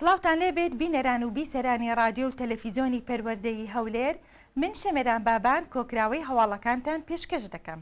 سڵاوتان لێ بێت بینەران و بیسەرانی ڕادیۆ و تەلەفیزیۆنی پەروەردەی هەولێر من شەمێران بابان کۆکراوەی هەواڵەکانتان پێشکەش دەکەم.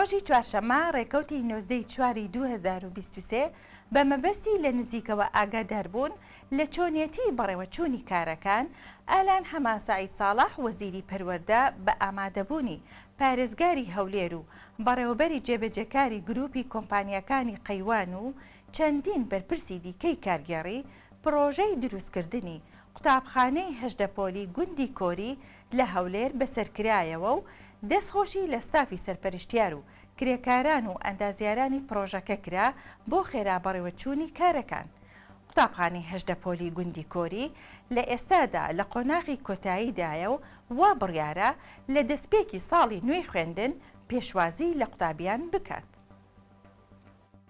ڕۆژی چوارشەممە ڕێکەوتی نۆزدە ی چواری دوو هەزار و بیست و سێ بە مەبەستی لە نزیکەوە ئاگاداربوون لە چۆنیەتی بەڕێوەچوونی کارەکان، ئالان حەمە سەعید ساڵح وەزیری پەروەردە بە ئامادەبوونی پارێزگاری هەولێر و بەڕێوەبەری جێبەجێکاری گرووپی کۆمپانیاکانی قەیوان و چەندین بەرپرسی دیکەی کارگێڕی پڕۆژەی دروستکردنی قوتابخانەی هەژدە پۆلی گوندی کۆری لە هەولێر بەسەرکرایەوە و دەستخۆشی لە ستافی سەرپەرشتیار و کرێکاران و ئەندازیارانی پڕۆژەکە کرا بۆ خێرا بەڕێوەچوونی کارەکان قوتابخانەی هەژدە پۆلی گوندی کۆری لە ئێستادا لە قۆناغی کۆتاییدایە و وا بڕیارە لە دەستپێکی ساڵی نوێی خوێندن پێشوازی لە قوتابیان بکات.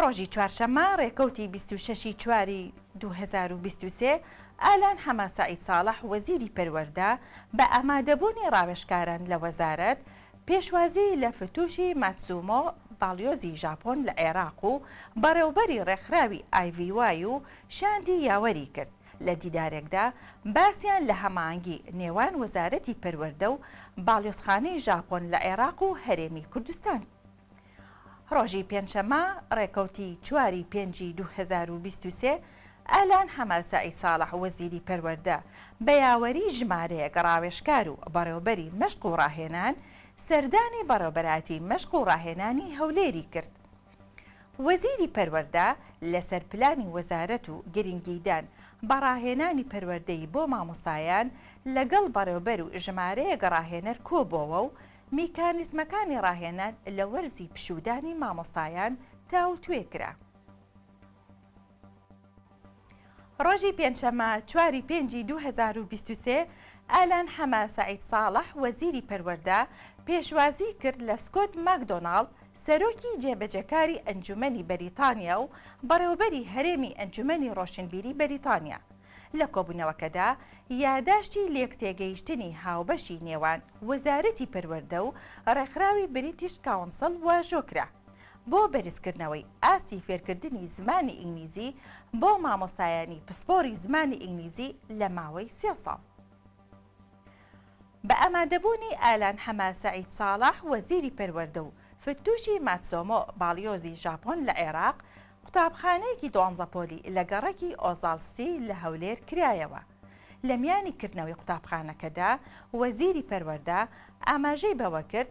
ڕۆژی چوارشەممە ڕێکەوتی بیست و شەش ی چواری دوو هەزار و بیست و سێ، ئالان حەمە سەعید ساڵح وەزیری پەروەردە بە ئامادەبوونی ڕاوێژکاران لە وەزارەت، پێشوازی لە فتوشی ماتسومۆ باڵیۆزی ژاپۆن لە عێراق و بەڕێوبەری ڕێکخراوی ئای ڤی وای و شاندی یاوەری کرد. لە دیدارێکدا باسیان لە هەماهەنگی نێوان وەزارەتی پەروەردە و باڵیۆزخانەی ژاپۆن لە عێراق و هەرێمی کوردستان ڕۆژی پێنجشەممە ڕێکەوتی چواری پێنجی دوو هەزار و بیست و سێ ئالان حەماسەعی ساڵح وەزیری پەروەردە بە یاوەری ژمارەیەک ڕاوێژکار و بەڕێوەبەری مەشق و ڕاهێنان سەردانی بەڕێوەبەرایەتی مەشق و ڕاهێنانی هەولێری کرد. وەزیری پەروەردە لەسەر پلانی وەزارەت و گرنگیدان بە ڕاهێنانی پەروەردەیی بۆ مامۆستایان لەگەڵ بەڕێوبەر و ژمارەیەک ڕاهێنەر کۆبووەوە و میکانیزمەکانی ڕاهێنان لە وەرزی پشوودانی مامۆستایان تاوتوێ کرا. ڕۆژی پێنجشەممە چوار ی پێنج ی دوو هەزار و بیست و سێ، ئالان حەمە سەعید ساڵح، وەزیری پەروەردە، پێشوازیی کرد لە سکۆت ماکدۆناڵد، سەرۆکی جێبەجێکاری ئەنجوومەنی بەریتانیا و بەڕێوەبەری هەرێمی ئەنجوومەنی ڕۆشنبیری بەریتانیا. لە کۆبوونەوەکەدا یاداشتی لێکتێگەیشتنی هاوبەشی نێوان وەزارەتی پەروەردە و ڕێکخراوی بریتیش کاونسڵ واژۆ کرا. بۆ بەرزکردنەوەی ئاستی فێرکردنی زمانی ئینگلیزی بۆ مامۆستایانی پسپۆری زمانی ئینگلیزی لە ماوەی سێ ساڵ. بە ئامادەبوونی ئالان حەمە سەعید ساڵح وەزیری پەروەردە و فتوشی ماتسۆمۆ باڵیۆزی ژاپۆن لە عێراق، قوتابخانەیەکی دوانزە پۆلی لە گەڕەکی ئۆزاڵ سی لە هەولێر کرایەوە. لە میانی کردنەوەی قوتابخانەکەدا وەزیری پەروەردە ئاماژەی بەوەکرد،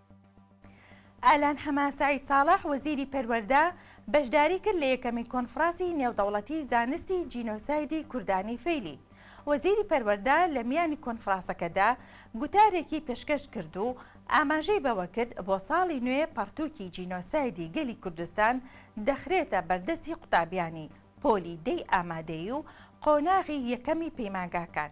ئالان حەمە سەعید ساڵح وەزیری پەروەردە بەشداری کرد لە یەکەمین کۆنفڕاسی نێودەوڵەتی زانستی جینۆسایدی کوردانی فەیلی وەزیری پەروەردە لە میانی کۆنفڕاسەکەدا گوتارێکی پێشکەش کرد و ئاماژەی بەوە کرد بۆ ساڵی نوێ پەڕتووکی جینۆسایدی گەلی کوردستان دەخرێتە بەردەستی قوتابیانی پۆلی دەی ئامادەیی و قۆناغی یەکەمی پەیمانگاکان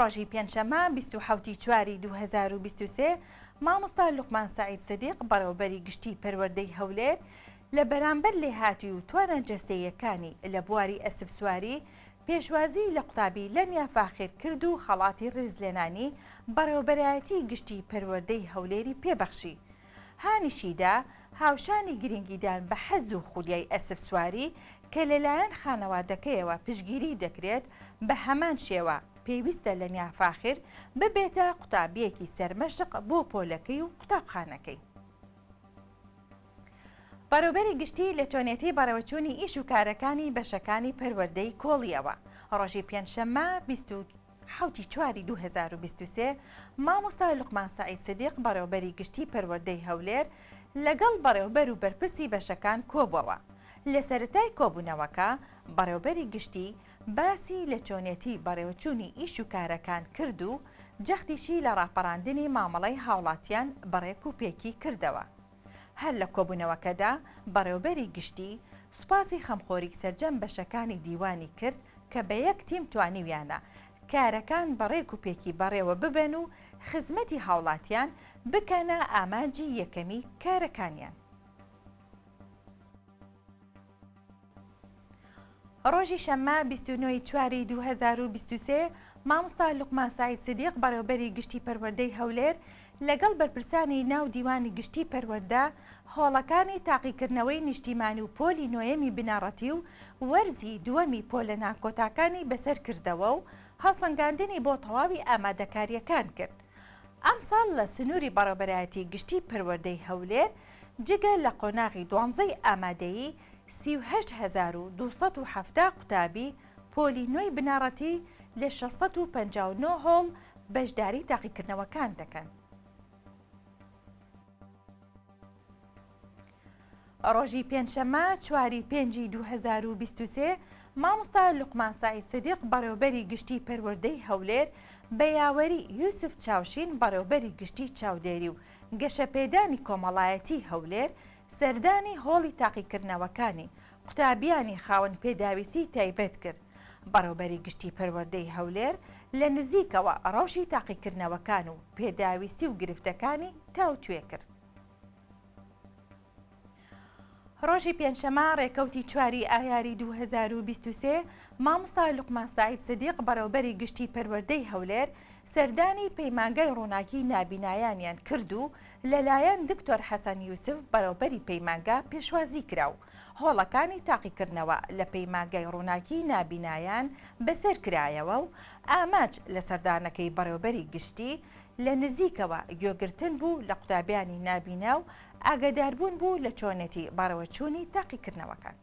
ڕۆژی پێنجشەممە بیست و حەوتی چواری دوو هەزار و بیست و سێ مامۆستا لوقمان سەعید سدیق بەڕێوەبەری گشتی پەروەردەی هەولێر لە بەرامبەر لێهاتوی و توانا جەستەییەکانی لە بواری ئەسپسواری پێشوازیی لە قوتابی لەمیا فاخیر کرد و خەڵاتی ڕیزلێنانی بەڕێوەبەرایەتی گشتی پەروەردەی هەولێری پێ بەخشی هانیشیدا، هاوشانی گرنگیدان بە حەز و خولیای ئەسپسواری کە لەلایەن خانەوادەکەیەوە پشتگیریی دەکرێت، بە هەمان شێوە پێویستە لەنیا فاخر ببێتە قوتابییەکی سەرمەشق بۆ پۆلەکەی و قوتابخانەکەی. بەڕێوبەری گشتی لە چۆنێتی بەڕێوەچوونی ئیش و کارەکانی بەشەکانی پەروەردەی کۆڵییەوە، ڕۆژی پێنجشەممە بیست و حەوتی چواری دوو هەزار و بیست و سێ، مامۆستا لوقمان سەعید سدیق بەڕێوەبەری گشتی پەروەردەی هەولێر لەگەڵ بەڕێوەبەر و بەرپرسی بەشەکان کۆبوەوە، لە سەرەتای کۆبونەوەکە بەڕێوەبەری گشتی باسی لە چۆنێتی بەڕێوەچوونی ئیش و کارەکان کرد و جەختیشی لە ڕاپەڕاندنی مامەڵەی هاوڵاتیان بەڕێک و پێکی کردەوە. هەر لە کۆبوونەوەکەدا بەڕێوبەری گشتی سوپاسی خەمخۆری سەرجەم بەشەکانی دیوانی کرد کە بە یەک تیم توانیویانە کارەکان بە ڕێک و پێکی بەڕێوە ببەن و خزمەتی هاوڵاتیان بکەنە ئامانجی یەکەمی کارەکانیان. ڕۆژی شەممە بیست و نۆ ی چواری دوو هەزار و بیست و سێ مامۆستا لوقمان سەعید سدیق بەڕێوەبەری گشتی پەروەردەی هەولێر لەگەڵ بەرپرسانی ناو دیوانی گشتی پەروەردە هۆڵەکانی تاقیکردنەوەی نیشتیمانی و پۆلی نۆیەمی بنەڕەتی و وەرزی دووەمی پۆلە ناکۆتاکانی بەسەر کردەوە و هەڵسەنگاندنی بۆ تەواوی ئامادەکارییەکان کرد ئەمساڵ لە سنووری بەڕێوەبەرایەتی گشتی پەروەردەی هەولێر جگە لە قۆناغی دوانزەی ئامادەیی سی و هەشت هەزار و دوو سەد و حەفتا قوتابی پۆلی نۆی بنەڕەتی لە شەش سەد و پەنجا و نۆ هۆڵ بەشداری تاقیکردنەوەکان دەکەن. ڕۆژی پێنجشەممە چواری پێنجی دوو هەزار و بیست و سێ مامۆستا لوقمان سەعید سدیق بەڕێوبەری گشتی پەروەردەی هەولێر بە یاوەری یوسف چاوشین بەڕێوبەری گشتی چاودێری و گەشەپێدانی کۆمەڵایەتیی هەولێر سەردانی هۆڵی تاقیکردنەوەکانی قوتابییانی خاوەن پێداویستیی تایبەت کرد، بەڕێوبەری گشتی پەروەردەی هەولێر لە نزیکەوە رەوشی تاقیکردنەوەکان و پێداویستی و گرفتەکانی تاوتوێ کرد. ڕۆژی پێنجشەمە ڕێکەوتی چواری ئایاری دوو هەزار و بیست و سێ مامۆستا لوقمان سەعید سدیق بەڕێوبەری گشتی پەروەردەی هەولێر سەردانی پەیمانگای ڕووناکی نابینایانیان کرد و لەلایەن دکتۆر حەسەن یوسف بەڕێوبەری پەیمانگا پێشوازی کرا و هۆڵەکانی تاقیکردنەوە لە پەیمانگای ڕووناکی نابینایان بەسەر کرایەوە و ئامانج لە سەردانەکەی بەڕێوبەری گشتی لە نزیکەوە گوێگرتن بوو لە قوتابیانی نابینا و ئاگاداربوون بوو لە چۆنێتی بەڕێوەچوونی تاقیکردنەوەکان.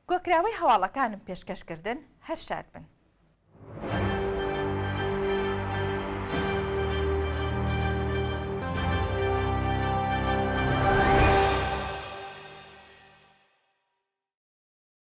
کۆکراوەی هەواڵەکانم پێشکەش کردن، هەر شاد بن.